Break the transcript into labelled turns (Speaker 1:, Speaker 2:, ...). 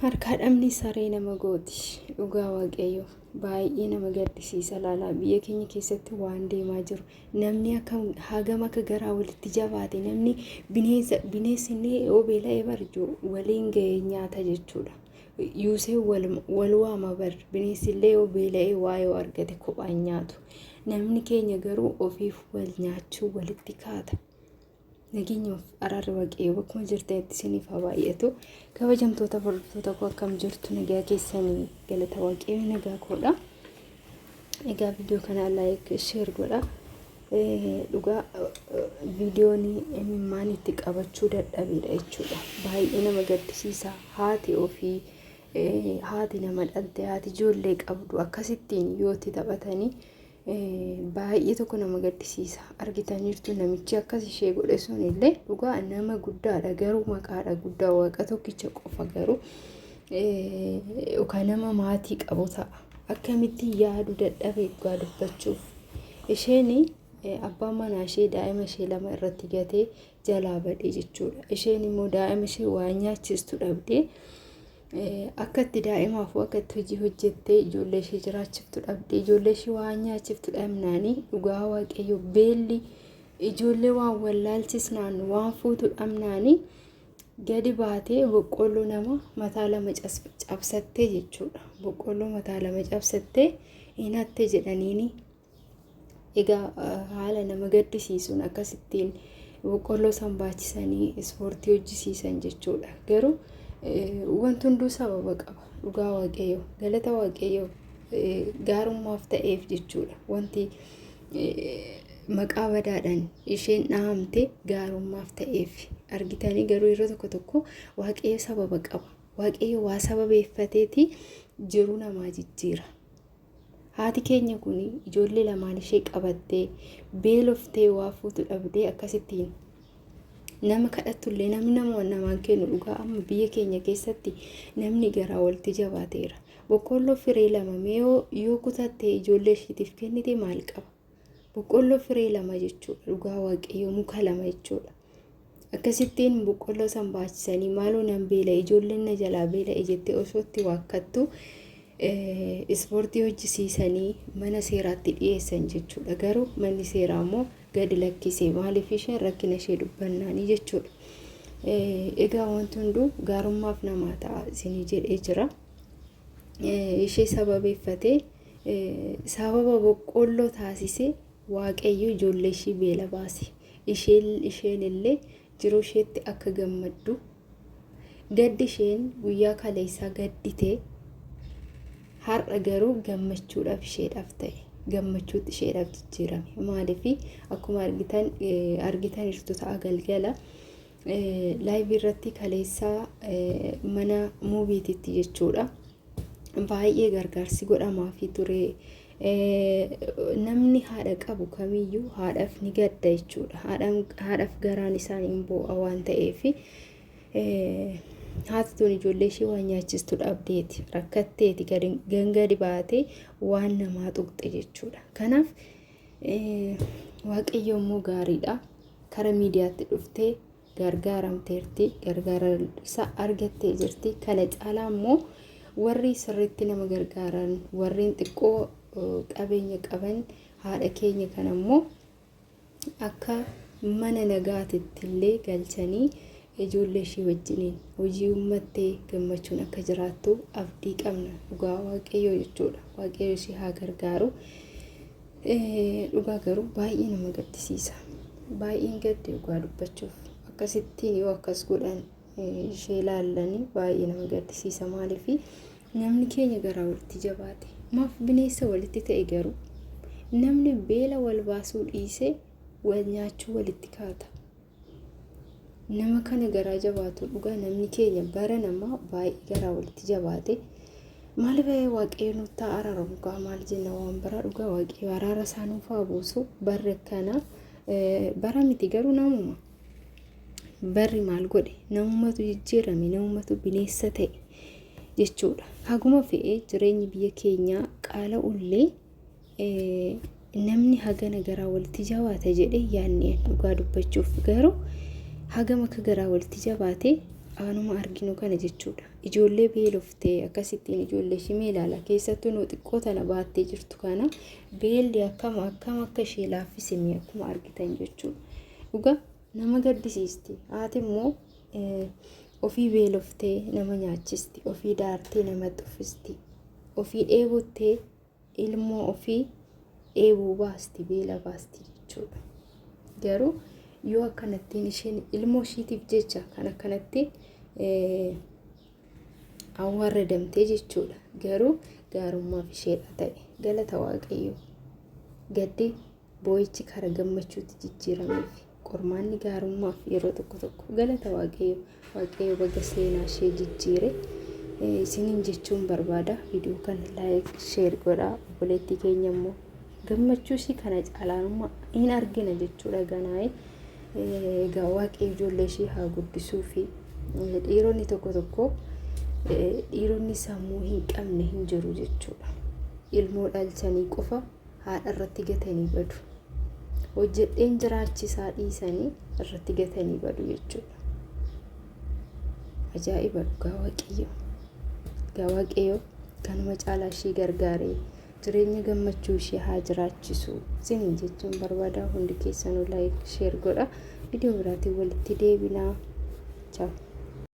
Speaker 1: Harkaa dhabni saree nama gooti dhugaa waaqayyoo baay'ee nama gaddisiisa laalaa biyya keenya keessatti waan deemaa jiru namni akka hagam akka garaa walitti jabaate namni bineensa bineensi inni yoo beela'ee barjuu waliin ga'ee nyaata jechuudha. Yuusee wal waama bar bineensi illee yoo beela'ee waa yoo argate kophaan nyaatu namni keenya garuu ofiif wal nyaachuu walitti kaata. Nageenyaaf araarri waaqayyoo bakkuma jirtanitti isiniif haa baay'atu. Kabajamtoota hordoftoota koo akkam jirtu nagaa keessanii galata waaqayyoo nagaa koodha. Egaa viidiyoo kana like share godha. Dhugaa viidiyoon imimmaan itti qabachuu dadhabeedha jechuudha. Baay'ee nama gaddisiisa haati ofii haati nama dhalte haati ijoollee qabdu akkasittiin yoo itti taphatanii Baay'ee tokko nama gaddisiisa. Argitaniirtu namichi akkas ishee godhe sun illee dhugaa nama guddaadha garuu maqaadha guddaa waaqa tokkicha qofa garuu yookaan nama maatii qabu ta'a. Akkamitti yaadu dadhabe dhugaa dubbachuuf. Isheen abbaan manaa ishee daa'ima ishee lama irratti gatee jalaa badee jechuudha. Isheen immoo daa'ima ishee waa nyaachistu dhabdee akka itti daa'imaaf akka itti hojii hojjettee ijoollee ishee jiraachiftu dhabdee ijoollee ishee waa nyaachiftu dhabnaanii dhugaa waaqayyo beelli ijoollee waan wallaalchisnaan waan fuutu dhabnaanii gadi baatee boqqolloo nama mataa lama cabsattee jechuudha. Boqqolloo mataa lama cabsattee hin hatte jedhaniini Egaa haala nama gaddisiisuun akkasittiin boqqolloo san baachisanii ispoortii hojjisiisan jechuudha. Garuu wanti hunduu sababa qaba. Dhugaa waaqayyo galata waaqayyo gaarummaaf ta'eef jechuudha. Wanti maqaa badaadhaan isheen dhahamte gaarummaaf ta'eef argitanii garuu yeroo tokko tokko waaqayyo sababa qaba. Waaqayyo waa sababeeffateeti jiruu namaa jijjiira. Haati keenya kun ijoollee lamaan ishee qabattee beeloftee waa fuutu dhabdee akkasittiin nama kadhattullee namni nama namaan kennu dhugaa amma biyya keenya keessatti namni garaa walitti jabaateera. Boqqoolloo firee lama mee yoo kutattee ijoollee ishiitiif kennite maal qaba? Boqqolloo firee lama jechuudha. Dhugaa waaqayyoo muka lama jechuudha. Akkasittiin boqqolloo san baachisanii maaloo nan beela ijoolleen na jalaa beela'e jettee osoo itti waakkattu ispoortii hojjisiisanii mana seeraatti dhiyeessan jechuudha. Garuu manni seeraa immoo gadi lakkisee maaliif isheen rakkina ishee dubbannaanii jechuudha. Egaa wanti hunduu gaarummaaf namaa ta'a isinii jedhee jira. Ishee sababeeffatee Sababa boqqoolloo taasisee Waaqayyo ijoollee ishii beela baase. Isheen isheen illee jiruu isheetti akka gammaddu gaddi isheen guyyaa kaleessaa gaddite har'a garuu gammachuudhaaf isheedhaaf ta'e gammachuutti isheedhaaf jijjiirame maaliif akkuma argitan argitan jirtu ta'a galgala Laayivii irratti kaleessa mana muuviititti jechuudha. Baay'ee gargaarsi godhamaafii ture. Namni haadha qabu kamiyyuu haadhaaf ni gadda jechuudha. Haadhaaf garaan isaan hin boo'a waan ta'eef haati tun ijoollee ishee waan nyaachistu dhabdeeti rakkatteeti gangadi baatee waan namaa tuqxe jechuudha. Kanaaf Waaqayyo immoo gaariidha. Kara miidiyaatti dhuftee gargaaramteerti. Gargaara isaa argattee jirti. Kana caalaa immoo warri sirriitti nama gargaaran warreen xiqqoo qabeenya qaban haadha keenya kana immoo akka mana nagaatitti illee galchanii Ijoollee ishee wajjiniin hojii uummattee gammachuun akka jiraattu abdii qabna dhugaa waaqayyoo jechuudha. Waaqayyo ishee haa gargaaru. Dhugaa garuu baay'ee nama gaddisiisa. Baay'een gadde dhugaa dubbachuuf akkasittiin yoo akkas godhan ishee ilaallanii baay'ee nama gaddisiisa maaliif namni keenya garaa walitti jabaate maaf bineensa walitti ta'e garuu namni beela wal baasuu dhiisee wal nyaachuu walitti kaata. nama kana garaa jabaatu dhugaa namni keenya bara namaa baay'ee garaa walitti jabaate maal ba'ee waaqayyo nuuf ta'a araaramu kaa maal jenna waan baraa dhugaa waaqayyo araara isaa nuuf haa buusu barri akkana bara miti garuu namuma barri maal godhe namumatu jijjiirame namumatu bineessa ta'e jechuudha haguma fe'ee jireenyi biyya keenyaa qaala ullee namni hagana garaa walitti jabaata jedhee yaadni dhugaa dubbachuuf garuu hagam akka garaa walitti jabaate aanuma arginu kana jechuudha. Ijoollee beeloftee akkasittiin ijoollee ishii mee ilaala keessattuu nuu xiqqoo tana baattee jirtu kana beelli akkam akkam akka ishee laaffisime akkuma argitan jechuudha. Dhugaa nama gaddisiisti haati immoo ofii beeloftee nama nyaachisti ofii daartee nama xuffisti ofii dheebottee ilmoo ofii dheebuu baasti beela baasti jechuudha garuu yoo akkanattiin isheen ilmoo ishiitiif jecha kan akkanatti awwaaradamtee jechuudha garuu gaarummaaf isheedha ta'e galata waaqayyoo gaddee Boo'ichi karaa gammachuutti jijjiirameef. Qormaanni gaarummaaf yeroo tokko tokko galata waaqayyo waaqayyo baga seenaa ishee jijjiire isiniin jechuun barbaada viidiyoo kana laayik sheer godhaa obboleettii keenya immoo gammachuu ishii kana caalaa hin argina jechuudha ganaa'e egaa waaqayyo ijoollee ishii haa guddisuu fi dhiironni tokko tokko dhiironni sammuu hin qabne hin jiru jechuudha ilmoo dhalchanii qofa haadha irratti gatanii badu. Hojjedheen jiraachisaa dhiisanii irratti gatanii badu jechuudha. Ajaa'iba dhugaa waaqayyo. Dhugaa waaqayyo kanuma caalaa ishii gargaaree jireenya gammachuu ishee haa jiraachisu. Siniin jechuun barbaada hundi keessanuu laayik sheer godha. Viidiyoo biraatiin walitti deebinaa. Ciao.